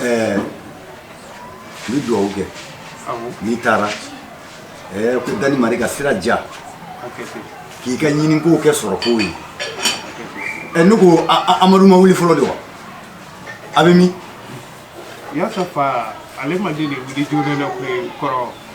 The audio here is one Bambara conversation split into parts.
ɛɛ n bɛ dugawu kɛ n'i taara ɛɛ ko dani mari ka sira diya k'i ka ɲinikow kɛ sɔrɔkow ye ɛ ne ko amadu ma wuli fɔlɔ de wa a bɛ min yasa fa ale ma deli wuli joona na koyi kɔrɔ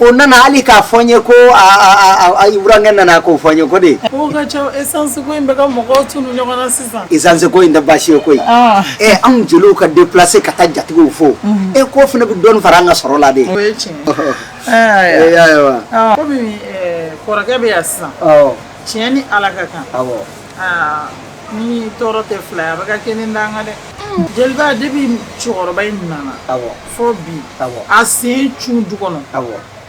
o nana hali k'a fɔ n ye ko burankɛ nana k'o fɔ n ye ko de esansiko in tɛ baasi ye koyi ɛ anw jeliw ka deplase ka taa jatigiw fo e k'o fana bɛ dɔɔni fara an ka sɔrɔ la de kɔrɔkɛ bɛ yan sisan tiɲɛ ni ala ka kan ni tɔɔrɔ tɛ fila ye a bɛ ka kelen danga dɛ jeliba depuis cɛkɔrɔba in nana fo bi a sen cun du kɔnɔ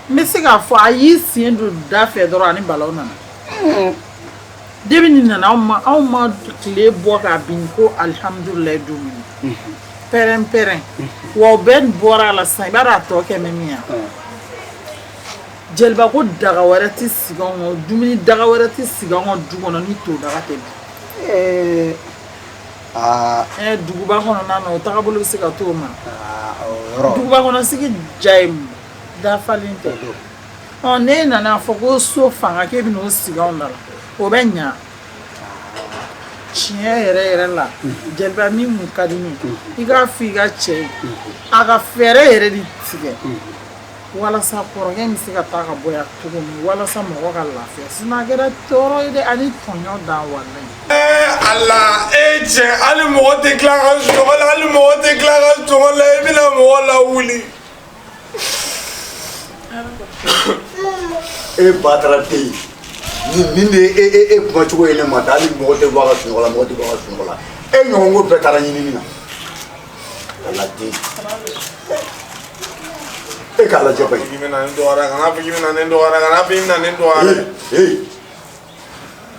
n bɛ se k'a fɔ a y'i sen don da fɛ dɔrɔn ani balawu nana depuis nin nana ma anw ma tile bɔ k'a bin ko alihamdulila don min pɛrɛn-pɛrɛn wa o bɛɛ bɔra a la sa i b'a dɔn a tɔ kɛ min min yan jeliba ko daga wɛrɛ tɛ sigi anw kɔnɔ dumuni daga wɛrɛ tɛ sigi anw ka du kɔnɔ ni to daga tɛ bi Ee, aa ɛɛ duguba kɔnɔna na o tagabolo bɛ se ka t'o ma aa, o yɔrɔ duguba kɔnɔ sigi diya ye mun dafalen tɛ don ɔ ne nana fɔ ko so fanga k'e bɛna o sigi anw da la o bɛ ɲa tiɲɛ yɛrɛ yɛrɛ la jeliba min mun ka di ne ye i k'a fɔ i ka cɛ ye a ka fɛɛrɛ yɛrɛ de tigɛ walasa kɔrɔkɛ in bɛ se ka taa ka bɔ yan cogo min walasa mɔgɔ ka lafiya sinon a kɛra tɔɔrɔ ye dɛ ani tɔɲɔ dan walayi. ee ala e cɛ hali mɔgɔ tɛ tila ka sunɔgɔ la hali mɔgɔ tɛ tila ka sunɔgɔ la i bɛna mɔgɔ lawuli. e batara tɛ yen nin nin de ye e e e kuma cogo ye ne ma ta hali mɔgɔ tɛ bɔ a ka sunɔgɔ la mɔgɔ tɛ bɔ a ka sunɔgɔ la e ɲɔgɔn ko bɛɛ taara ɲinini na. aladen e k'a lajɛ bayi i bɛna ne dɔgɔya kana fɔ k'i bɛna ne dɔgɔya kana fɔ i bɛna ne dɔgɔya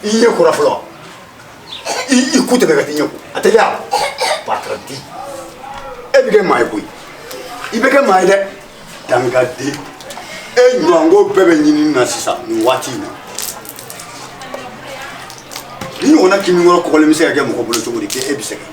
i ɲɛ kora fɔlɔ i i ku tɛmɛ ka t'i ɲɛ ko a tɛ diya bataraden e bɛ kɛ maa ye koyi i bɛ kɛ maa ye dɛ dangaden e ɲɔgɔnko bɛɛ bɛ ɲinini na sisan nin waati in na nin ɲɔgɔnna kamalenkɔrɔ kɔgɔlen bɛ se ka kɛ mɔgɔ bolo cogo di k'e bɛ sɛgɛn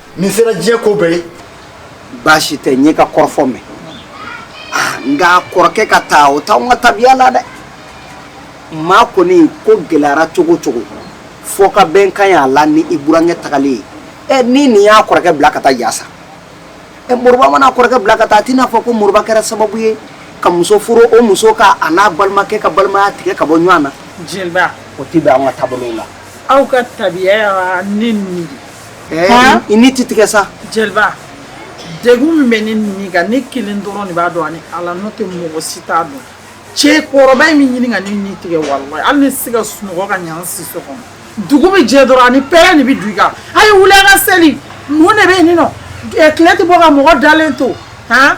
nin sera diɲɛ ko bɛɛ ye baasi tɛ n y'i ka kɔrɔfɔ mɛn ah, nka kɔrɔkɛ ka taa o t'anw ka tabiya la dɛ maa kɔni ko gɛlɛyara cogo cogo fo ka bɛn kan y'a la ni i burankɛ tagalen ye ɛ ni nin y'a kɔrɔkɛ bila ka taa yasa ɛ moriba man'a kɔrɔkɛ bila ka taa a tɛna fɔ ko moriba kɛra sababu ye ka muso furu o muso ka a n'a balimakɛ ka balimaya tigɛ ka bɔ ɲɔgɔn na jeliba o tɛ bɛn an ka taabolow la aw ka tabiya y'a ni nin i ni tɛ tigɛ sa jeliba degun min bɛ ne ni kan ne kelen dɔrɔn de b'a dɔn ani ala n'o tɛ mɔgɔ si t'a dɔn cɛ kɔrɔba in bɛ ɲini ka ne ni tigɛ walayi hali n tɛ se ka sunɔgɔ ka ɲa siso kɔnɔ dugu bɛ jɛ dɔrɔn a ni pɛrɛn de bɛ don i kan a ye wuli an ka seli mun de bɛ yen nɔ tile tɛ bɔ ka mɔgɔ dalen to han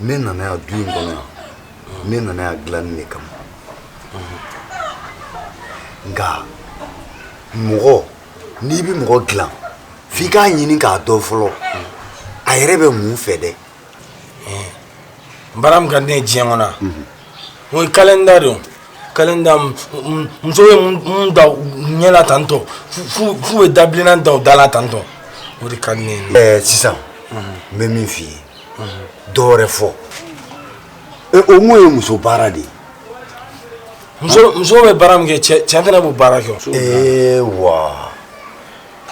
ne nana yan du in kɔnɔ yan ne nana yan dilanni de kama nka mɔgɔ n'i bɛ mɔgɔ dilan f'i k'a ɲini k'a dɔn fɔlɔ a yɛrɛ bɛ mun fɛ dɛ n baara min ka di ne ye diɲɛ kɔnɔ o ye kalenda de ye kalenda muso bɛ min da ɲɛ la tan tɔ f'u bɛ dabilennan da u da la tan tɔ o de ka di ne ye. ɛɛ sisan n bɛ min f'i ye dɔ wɛrɛ fɔ o mun ye muso baara de ye. muso muso bɛ baara min kɛ cɛ cɛ fana b'o baara kɛ. ee wa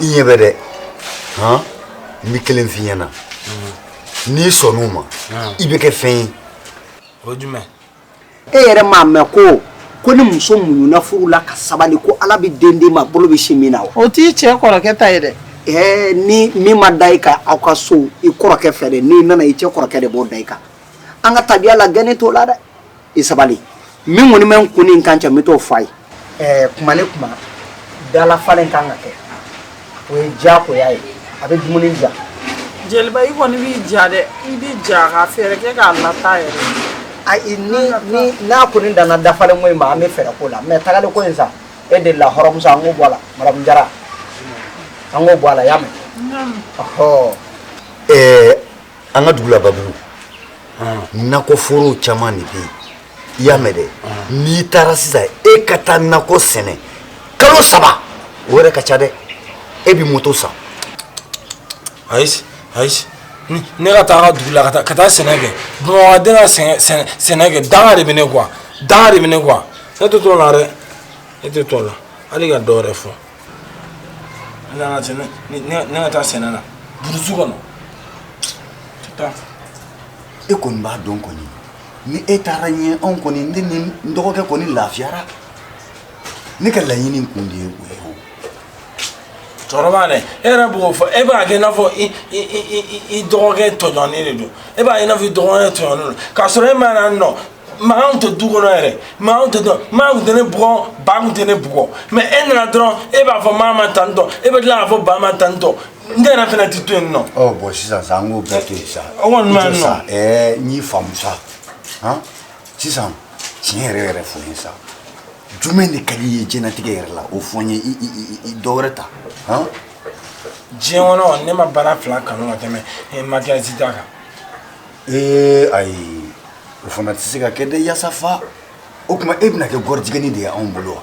i ɲɛ bɛ dɛ han n bɛ kelen f'i ɲɛna n'i sɔnn'o ma i bɛ kɛ fɛn ye. o jumɛn e yɛrɛ m'a mɛn ko ko ni muso muɲuna furu la ka sabali ko ala bɛ den d'i ma bolo bɛ sin min na wa o t'i cɛ kɔrɔkɛ ta ye dɛ ɛɛ ni min ma da i kan aw ka so i kɔrɔkɛ fɛ dɛ n'i nana i cɛ kɔrɔkɛ de b'o da i kan an ka tabiya la gɛnni t'o la dɛ i sabali min kɔni bɛ n kun ni n kan cɛ n bɛ t'o f'a ye ɛɛ kuma ni kuma dalafalen kan ka kɛ o ye diyagoya ye a bɛ dumuni diya jeliba i kɔni b'i ja dɛ i b'i ja ka fɛɛrɛ kɛ k'a lata yɛrɛ ayi ni ni n'a kɔni danna dafalen ko in ma an bɛ fɛɛrɛ k'o la mɛ tagali ko in sa e de la hɔrɔnmuso an k'o bɔ a la madamu jara an k'o bɔ a la y'a mɛn ɔhɔ ɛɛ an ka dugu la babugu nakɔforow caman de bɛ yen i y'a mɛn dɛ n'i taara sisan e ka taa nakɔ sɛnɛ kalo saba o yɛrɛ ka ca dɛ e bɛ moto san ayi ayi ne ka taa dugu la ka taa sɛnɛ kɛ bamakɔ den ka sɛnɛ kɛ danga de bɛ ne kɔ wa danga de bɛ ne kɔ wa ne tɛ t'o la dɛ ne tɛ t'o la hali ka dɔ wɛrɛ fɔ ne ka sɛnɛ ne ka taa sɛnɛ na burusi kɔnɔ tɛ taa e kɔni b'a dɔn kɔni ni e taara ɲɛ anw kɔni ne ni n dɔgɔkɛ kɔni lafiyara ne ka laɲini kun de ye o ye o cɛkɔrɔba dɛ e yɛrɛ b'o fɔ e b'a kɛ i n'a fɔ i i i i dɔgɔkɛ tɔɲɔnnen de don e b'a ye i n'a fɔ i dɔgɔkɛ tɔɲɔnnen don k'a sɔrɔ e ma na nɔ mankan tun tɛ du kɔnɔ yɛrɛ mankan tun tɛ dɔn maa tun tɛ ne bugɔ ba tun tɛ ne bugɔ mɛ e nana dɔrɔn e b'a fɔ maa ma tan tɔ e bɛ tila k'a fɔ ba ma tan tɔ n yɛrɛ fana tɛ to yen nɔ. ɔ bɔn sisan sa an k'o bɛɛ to yen sa. o kɔni ma nɔ. ɛɛ n y'i faamu sa han sisan tiɲɛ yɛrɛ yɛrɛ fɔ n ye sa jumɛn de ka di i ye diɲɛlatigɛ yɛrɛ la o fɔ n ye i i i dɔ wɛrɛ ta han. diɲɛ kɔnɔ ne ma baara fila kanu ka tɛmɛ eh, makiyasi ta kan. ee eh, ayi o fana tɛ se ka kɛ dɛ yaasa fa o tuma e bɛna kɛ gɔrijigɛni de ye anw bolo wa.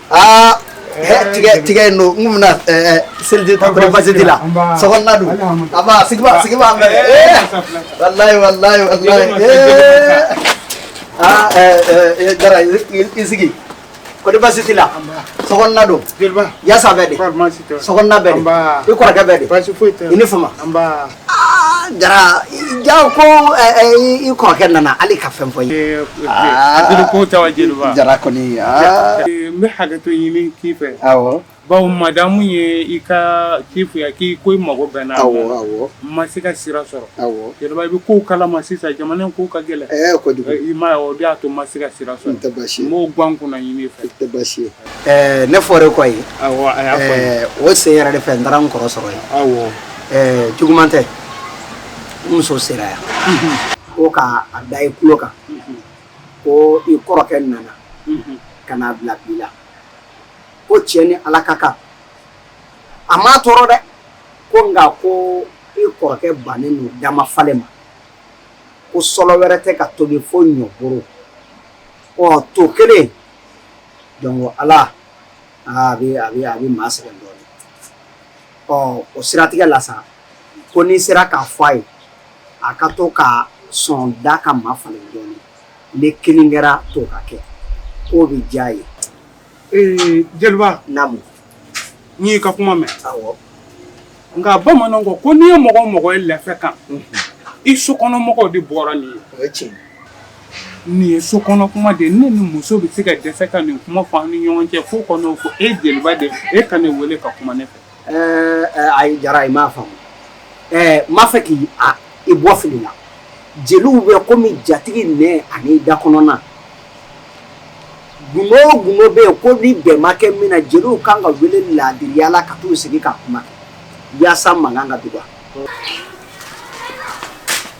Ah, he tigɛ tigɛ yen don n kun bɛna ɛɛ seliji ta ko ni basi t'i la sokɔnɔna don a ma sigi ma sigi ma mɛ ee walayi walayi walayi ee aa ɛɛ ɛɛ jara i sigi ko ni basi t'i la sokɔnɔna don yasa bɛ di sokɔnɔna bɛ di i kɔrɔkɛ bɛ di i ni fama jara ja ko i kɔrɔkɛ nana hali ka fɛn fɔ ye jara kɔni n bɛ hakɛto ɲini k'i fɛ bawo madamu ye i ka ci fɔ n ye k'i ko i mago bɛ n na ma se ka sira sɔrɔ i bɛ ko kala ma sisan jamana ko ka gɛlɛn i ma o y'a to ma se ka sira sɔrɔ tɛ basi mɔgɔw gan kunna ɲini fɛ tɛ basi ye ne fɔra i kɔ yen o sen yɛrɛ de fɛ n taara n kɔrɔ sɔrɔ yen ɛɛ juguman tɛ n muso sera yan ko ka a da i tulo kan ko i kɔrɔkɛ nana ka n'a bila bi la ko tiɲɛ ni ala ka kan a m'a tɔɔrɔ dɛ ko nka ko i kɔrɔkɛ bannen don da mafalen ma ko sɔlɔ wɛrɛ tɛ ka tobi fo ɲɔboro ɔ to kelen donc ala a bɛ a bɛ a bɛ maa sɛgɛn dɔɔnin ɔ o siratigɛ la sa ko n'i sera k'a fɔ a ye a ka to ka sɔn da ka mafalen dɔɔnin ne kelen kɛra to ka kɛ k'o bɛ diya a ye ee jeliba naamu n y'i ka kuma mɛn awɔ nka bamananw ko ko n'i ye mɔgɔ o mɔgɔ ye lɛfɛ kan i sokɔnɔmɔgɔw de bɔra nin ye o ye tiɲɛ ye Nin ye so kɔnɔ kuma de ye ne ni muso bɛ se ka dɛsɛ ka nin kuma fɔ an ni ɲɔgɔn cɛ so kɔnɔ fo e jeliba de e ka ne weele ka kuma ne fɛ ayi jara i m'a faamu ɛɛ n b'a fɛ k'i bɔ fili la jeliw bɛ kɔmi jatigi nɛn ani da kɔnɔna gundo bɛ yen ko ni bɛn ma kɛ min na jeliw kan ka wele laadiriya la ka taa sigi ka kuma yaasa mankan ka dɔgɔya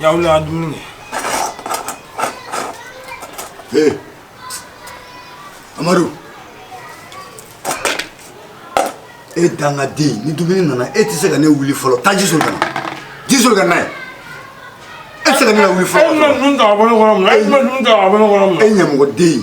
Ya wuli a dumuni kɛ amadu e dangaden ni dumuni nana e tɛ se ka ne wuli fɔlɔ taa ji soli ka na ji soli ka na ye e tɛ se ka ne wuli fɔlɔ e ɲamɔgɔden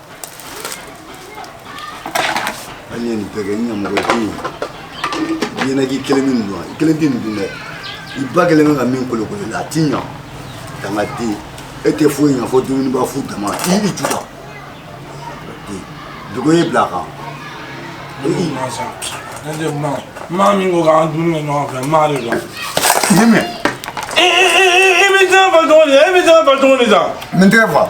an ye nin bɛɛ kɛ n ɲamɔgɔ tɛ yen diɲɛ na k'i kelen bɛ nin dun i kelen tɛ nin dun dɛ i ba kelen bɛ ka min kolokolo la a tiɲɛ dangaden e tɛ foyi ɲa fo dumuniba fu dama i i ju la dugu ye bila a kan maa min ko k'an dumuni kɛ ɲɔgɔn fɛ maa de don ne mɛ i bɛ tɛgɛ fa cogo di e bɛ tɛgɛ fa cogo di sa n tɛgɛ fa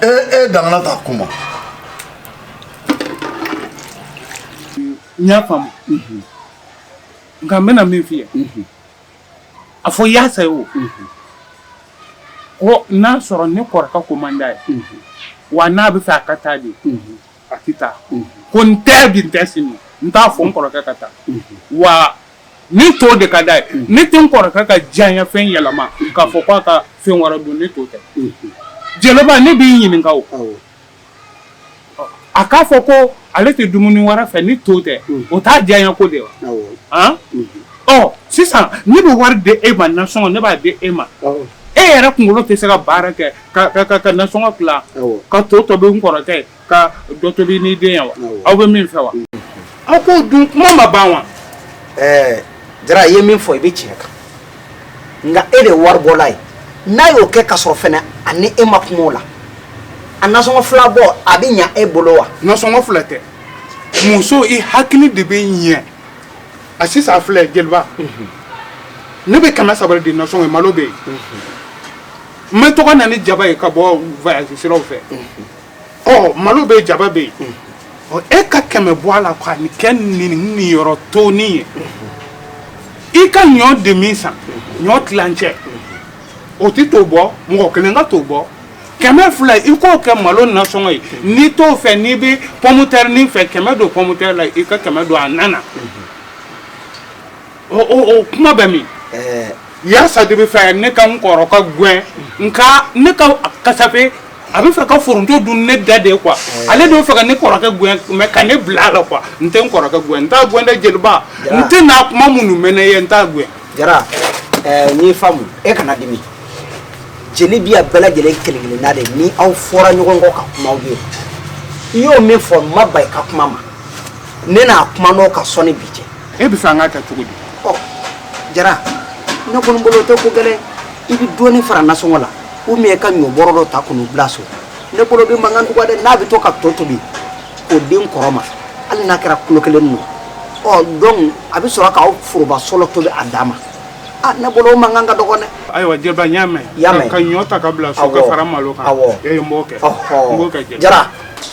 e e dangana t'a kuma n y'a faamu nka n bɛna min f'i ye a fɔ yaasa ye o ko n'a sɔrɔ ne kɔrɔkɛ ko man d'a ye wa n'a bɛ fɛ a ka taa de a tɛ taa ko n tɛ bi n tɛ sini n t'a fɔ n kɔrɔkɛ ka taa wa Ni to de ka d'a ye ne tɛ n kɔrɔkɛ ka diyanyefɛn yɛlɛma k'a fɔ k'a ka fɛn wɛrɛ dun ni to tɛ jeliba ne b'i ɲininka a k'a fɔ ko ale tɛ dumuni wɛrɛ fɛ ni to tɛ o t'a diyanyeko de wa ɔ sisan ne bɛ wari di e ma nasɔngɔ ne b'a di e ma e yɛrɛ kunkolo tɛ se ka baara kɛ ka nasɔngɔ tila ka to tobi n kɔrɔkɛ ye ka dɔ tobi ni den ye wa aw bɛ min fɛ wa aw k'o dun kuma ma ban wa ɛɛ jara i ye min fɔ i bɛ tiɲɛ kan nka e de ye waribɔla ye n'a y'o kɛ ka sɔrɔ fɛnɛ a ni e ma kuma o la a nasɔngɔ fila bɔ a bɛ ɲa e bolo wa nasɔngɔ fila tɛ muso i hakili de bɛ ɲɛ a sisan a filɛ jeliba ne bɛ kɛmɛ saba de di nasɔngɔ ye malo bɛ yen n bɛ to ka na ni jaba ye ka bɔ voyage siraw fɛ ɔ malo bɛ jaba bɛ yen ɔ e ka kɛmɛ bɔ a la ka nin kɛ nin nin yɔrɔ tonin ye i ka ɲɔ demi san ɲɔ tilancɛ o tɛ to bɔ mɔgɔ kelen ka to bɔ kɛmɛ fila i k'o kɛ malo nasɔngɔ ye n'i t'o fɛ n'i bɛ pɔmutɛrinin fɛ kɛmɛ don pɔmutɛri la i ka kɛmɛ don a na na. o kuma bɛ min yaasa de bɛ fɛ ne ka n kɔrɔkɛ gɛn nka ne ka kasafe a bɛ fɛ ka foronto dun ne da de quoi ale de bɛ fɛ ka ne kɔrɔkɛ gɛn ka ne bila a la quoi n tɛ n kɔrɔkɛ gɛn n t'a gɛn dɛ jeliba n tɛna kuma minnu mɛn ne ye n t'a gɛn jara n y'i faamu e kana dimi jeli bi a bɛɛ lajɛlen kelen-kelenna de ni aw fɔra ɲɔgɔn kɔ ka kuma ye i y'o min fɔ n ma ban i ka kuma ma ne na kuma n'o ka sɔnni bi cɛ e b'a fɛ an k'a kɛ cogo di ɔ jara ne kɔni bolo o tɛ ko gɛlɛn i bɛ dɔɔnin fara nasɔngɔ la ou bien ka ɲɔ bɔrɔ dɔ ta ka n'o bila so ne bolo o bɛ mankan dɔgɔya dɛ n'a bɛ to ka to tobi k'o di n kɔrɔ ma hali n'a kɛra kilo kelen ninnu ɔ donc a bɛ sɔrɔ k'aw foroba sɔlɔ tobi a dan ma a ne bolo o mankan ka dɔgɔn dɛ ayiwa jeliba n y'a mɛn ka ɲɔ ta ka bila so ka fara malo kan awɔ ee n b'o kɛ n b'o kɛ jeliba jara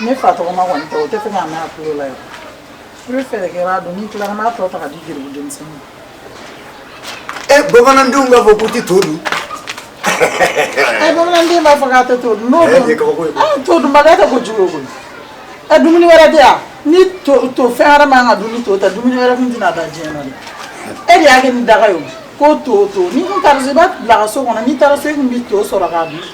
Ne fa tɔgɔma kɔni tɛ o t'a fɛ k'a mɛn a tulo la ye i bɛ fɛɛrɛ kɛ i b'a dun n'i tilara n'a tɔ ta k'a di garibu denmisɛnnin ma e bamanandenw b'a fɔ k'u tɛ to dun ɛ bamananden b'a fɔ k'a tɛ to dun n'o dun ɛ kabako ye ɛ todunbaliya tɛ ko jugu ye koyi ɛ dumuni wɛrɛ tɛ yan ni to tɛ fɛn wɛrɛ man ka dun ni to tɛ dumuni wɛrɛ tun tɛna da diɲɛ na dɛ e de y'a kɛ ni daga ye o ko to to n'i tun taara so i b'a bila ka so kɔnɔ n'i taara so i tun bɛ to sɔrɔ k'a dun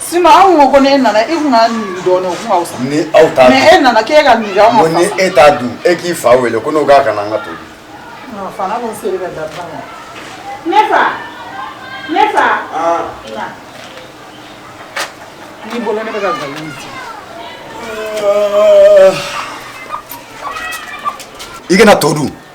Sinon anw ko ko n'e nana e tun ka nin dɔɔnin o tun ka wusa ni aw t'a dun mais e nana k' e ka ni e t'a dun e k'i fa wele ko n'o ka kan an ka to dun n'i bolo ne bɛ ka i kana to dun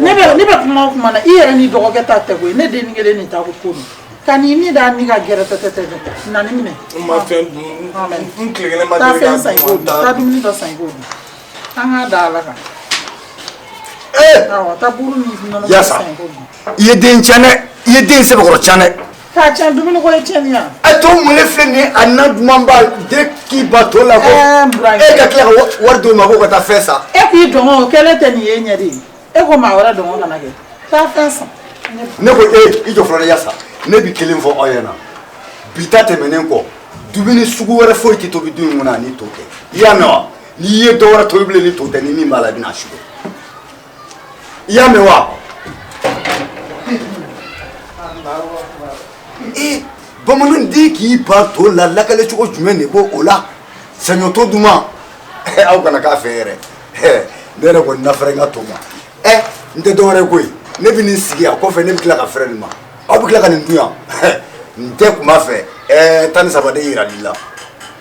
ne bɛ kuma o kuma na i yɛrɛ ni dɔgɔkɛ ta tɛ koyi ne den kelen nin ta ko ko don ka ni ni da ni ka gɛrɛ tɛ na nin minɛ n ma fɛn dun n tile kelen ma taa fɛn san i k'o dun taa dumuni dɔ san i k'o dun an k'a da ala kan ee awɔ taa buru ni nɔnɔ san i k'o dun i ye den tiɲɛ dɛ i ye den sɛbɛkɔrɔ tiɲɛ dɛ K'a tiɲɛ dumuni ko ye tiɲɛni yan. A to mɔlen filɛ nin ye a na dumanba den k'i ban to la ko. Ɛɛ Burama. E ka tila ka wari d'o ma ko ka taa fɛn san. E k'i dungɔ o kɛlen tɛ nin ye ɲɛ de ye. E ko maa wɛrɛ dungɔ kana kɛ. Taa fɛn san. Ne ko e i jɔ fɔlɔ yasa ne bɛ kelen fɔ aw ɲɛna bi ta tɛmɛnen kɔ dumuni sugu wɛrɛ foyi tɛ tobi du in kɔnɔ ni to tɛ i y'a mɛn wa n'i ye dɔ wɛrɛ tobi bilen ni to tɛ ni min b'a la i bɛna a sugo i y'a mɛn wa ee bamanan den k'i ban to la lakale cogo jumɛn ne ko o la saɲɔto duman aw kana k'a fɛ yɛrɛ ne yɛrɛ kɔni na fɛrɛ n ka to ma ɛ n tɛ dɔwɛrɛ koyi ne bɛ nin sigi a kɔfɛ ne bɛ tila ka fɛrɛ nin ma aw bɛ tila ka nin dun yan n tɛ kuma fɛ ɛɛ tan ni saba de yirali la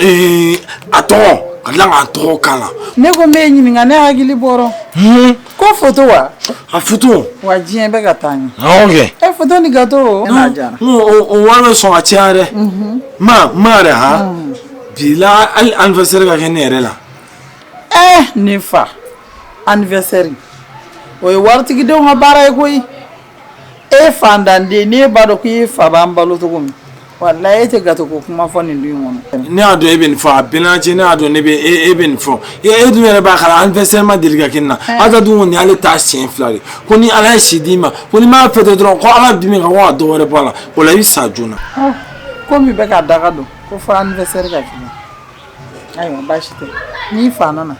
ee a tɔgɔ ka tila k'a tɔgɔ k'a la ne ko n b'e ɲininka ne hakili bɔr'o kɔ foto wa a foto wa diɲɛ bɛ ka taa ɲɛ awɔ kɛ e foto ni gato o n'a diyara N ko o- o wari bɛ sɔn ka caya dɛ ma ma yɛrɛ ha bi la hali anniversaire ka kɛ ne yɛrɛ la ɛɛ ne fa anniversaire o ye waritigidenw ka baara ye koyi e fantanden n'e b'a dɔn k'i fa b'an balo cogo min walayi e tɛ gato ko kuma fɔ nin kɔnɔ ne y'a dɔn e bɛ nin fɔ a bɛnna cɛ ne y'a dɔn ne bɛ e bɛ nin fɔ e dun yɛrɛ b'a kala anniversaire ma deli ka kɛ n na a ka dun kɔni ale t'a siɲɛ fila de ko ni ala ye si d'i ma ko n'i m'a fêter dɔrɔn ko ala bɛ dimi ka ko ka dɔ wɛrɛ bɔ a la o la i bɛ sa joona ko min bɛ k'a daga don ko fo anniversaire ka kɛ ayiwa baasi tɛ n'i fa nana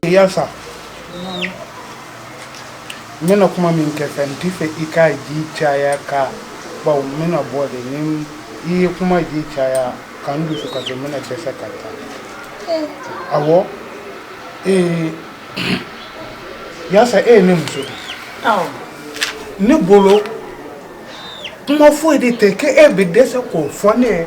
Yasa n bɛna kuma min k'i fɛ n t'i fɛ i ka ji caya ka bawo n bɛna bɔ de ni i ye kuma ji caya ka n dusu kasi n bɛna dɛsɛ ka taa awɔ ee Yasa e ye ne muso de ye Awɔ. ne bolo kuma foyi de tɛ k'e bɛ dɛsɛ k'o fɔ ne ye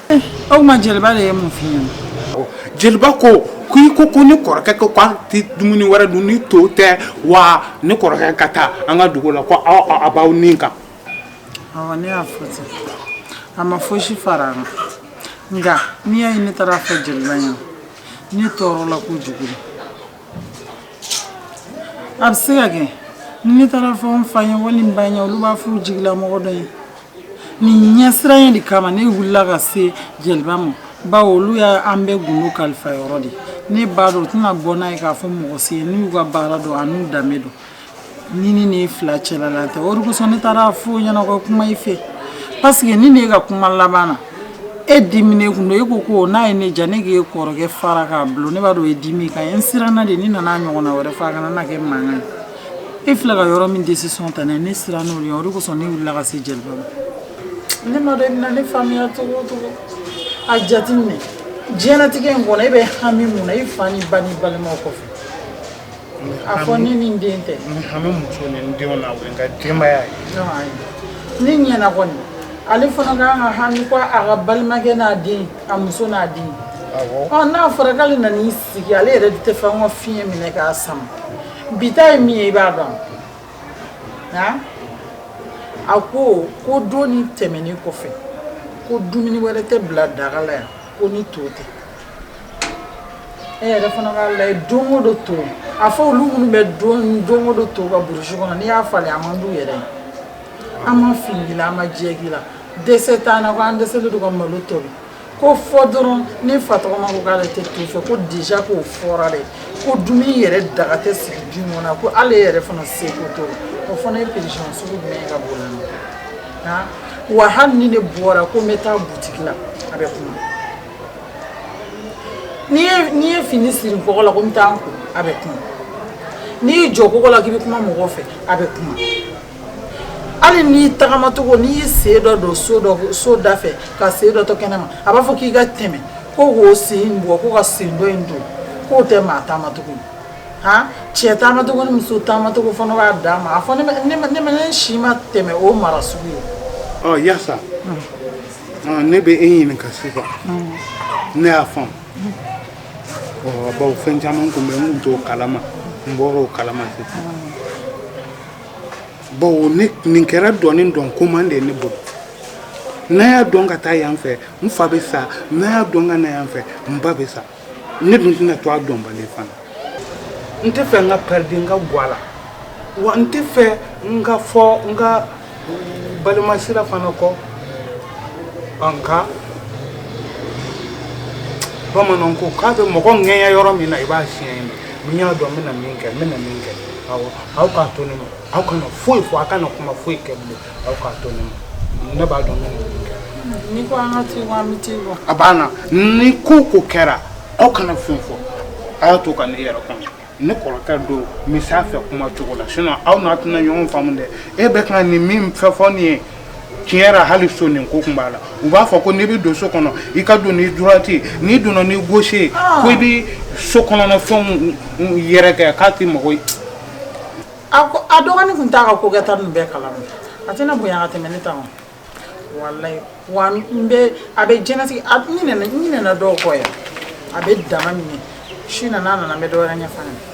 O tuma jeliba de ye mun fɔ i ye jeliba ko ko i ko ko ne kɔrɔkɛ ko k'a tɛ dumuni wɛrɛ dun ni to tɛ wa ne kɔrɔkɛ ka taa an ka dugu la ko a b'aw nin kan awɔ ne y'a fɔ ten a ma fosi fara a kan nka n'i y'a ye ne taara a fɔ jeliba ye ne tɔɔrɔla kojugu a bɛ se ka kɛ ne taara a fɔ n fa ye walima n ba ye olu b'a fɔ u jigilamɔgɔ dɔ ye nin ɲɛsiranɲɛ de kama ne wulila ka se jeliba ma bawo olu ye an bɛɛ gundo kalifa yɔrɔ de ne b'a dɔn u tɛna bɔ n'a ye k'a fɔ mɔgɔ si ye n'u y'u ka baara dɔn an'u danbe dɔn ni ne ni fila cɛlala tɛ o de kosɔn ne taara a fɔ a ɲɛna ka kuma i fɛ paseke ni ne ka kuma laban na e diminen tun don e ko ko n'a ye ne diya ne k'e kɔrɔkɛ fara k'a bulon ne b'a dɔn e dimi kan ye n siranna de ni n nana ɲɔgɔnna wɛrɛ fɔ a kana na kɛ mankan ye e filɛ ka yɔrɔ min décision ta ne siranna o ɲɛ o de kosɔn ne wulila ka se jeliba ma ne m'a dɔn i bɛna ne faamuya cogo o cogo a jateminɛ diɲɛlatigɛ in kɔnɔ e bɛ hami mun na i fa ni ba ni balimaw kɔfɛ a fɔ ne ni n den tɛ hami muso ni n denw na o ye n ka denbaya ye ne ɲɛna kɔni ale fana ka kan ka hami ko a ka balimakɛ n'a den a muso n'a den n'a fɔra k'ale nan'i sigi ale yɛrɛ t'a fɛ n ka fiɲɛ minɛ k'a sama bi ta ye min ye i b'a dɔn wa? a ko ko don in tɛmɛnen kɔfɛ ko dumuni wɛrɛ tɛ bila daga la yan ko ni to tɛ e yɛrɛ fana k'a lajɛ don o don to a fɔ olu minnu bɛ don o don to kan burusi kɔnɔ n'i y'a falen a man d'u yɛrɛ ye an ma fin k'i la an ma jɛ k'i la dɛsɛ t'an na ko an dɛsɛlen don ka malo tobi k'o fɔ dɔrɔn ne fa tɔgɔma ko k'ale tɛ to fɛ ko déjà k'o fɔra dɛ ko dumuni yɛrɛ daga tɛ sigi du kɔnɔ ko ale yɛrɛ fana se ko to o fana ye prison sugu jumɛn ye ka bɔ na wa hali ni ne bɔra ko n bɛ taa butigi la a bɛ kuma n'i ye fini siri kɔ la ko n taa a bɛ kuma n'i y'i jɔ kogo la k'i bɛ kuma mɔgɔ fɛ a bɛ kuma hali n'i tagamacogo n'i y'i sen dɔ don so da fɛ ka sen dɔ to kɛnɛ ma a b'a fɔ k'i ka tɛmɛ ko k'o sen in bɔ ko ka sen dɔ in don k'o tɛ maa taamacogo ye han cɛ taamacogo ni muso taamacogo fana b'a danma a fɔ ne ma ne ma ne ma ne si ma tɛmɛ o mara sugu ye ɔ yasa ɔ, ne bɛ e ɲininka sisan ne y'a faamu ɔ bawo fɛn caman tun bɛ n tun t'o kalama n bɔra o kalama sisan bon ne nin kɛra dɔni dɔn goman de ne bolo n'a y'a dɔn ka taa yan fɛ n fa bɛ sa n'a y'a dɔn ka na yan fɛ n ba bɛ sa ne dun tɛna to a dɔnbali fana n t'a fɛ n ka pɛridi n ka gwa la wa n t'a fɛ n ka fɔ n ka balimasira fana kɔ an ka bamananw ko k'a bɛ mɔgɔ ŋɛɲɛ yɔrɔ min na i b'a siɲɛ yen n y'a dɔn n bɛna min kɛ n bɛna min kɛ aw k'a to ne ma aw kana foyi fɔ aw kana kuma foyi kɛ bilen aw k'a to ne ma ne b'a dɔn n bɛna min kɛ ni ko an ka to an bɛ to yen a banna ni ko o ko kɛra aw kana fɛn fɔ a y'a to ka ne yɛrɛ kɔnɔ ne kɔrɔkɛ don n bɛ se a fɛ kuma cogo la sinon aw n'a tɛna ɲɔgɔn faamu dɛ e bɛ ka nin min fɛn fɔ nin ye tiɲɛ yɛrɛ hali so nin ko tun b'a la u b'a fɔ ko n'i bɛ don so kɔnɔ i ka don ni droite n'i donna ni gauche ye ah. ko i bɛ so kɔnɔna fɛnw yɛrɛkɛ k'a tɛ mɔgɔ ye a ko a dɔgɔnin tun t'a ka ko kɛta ninnu bɛɛ kalama a tɛna bonya ka tɛmɛ ne ta ma walayi wa n bɛ a bɛ jɛnɛtigi a n ɲinɛna n ɲinɛna dɔw kɔ yɛrɛ a bɛ dama minɛ su nana a nana n bɛ dɔ wɛrɛ ɲɛfɔ a ɲɛna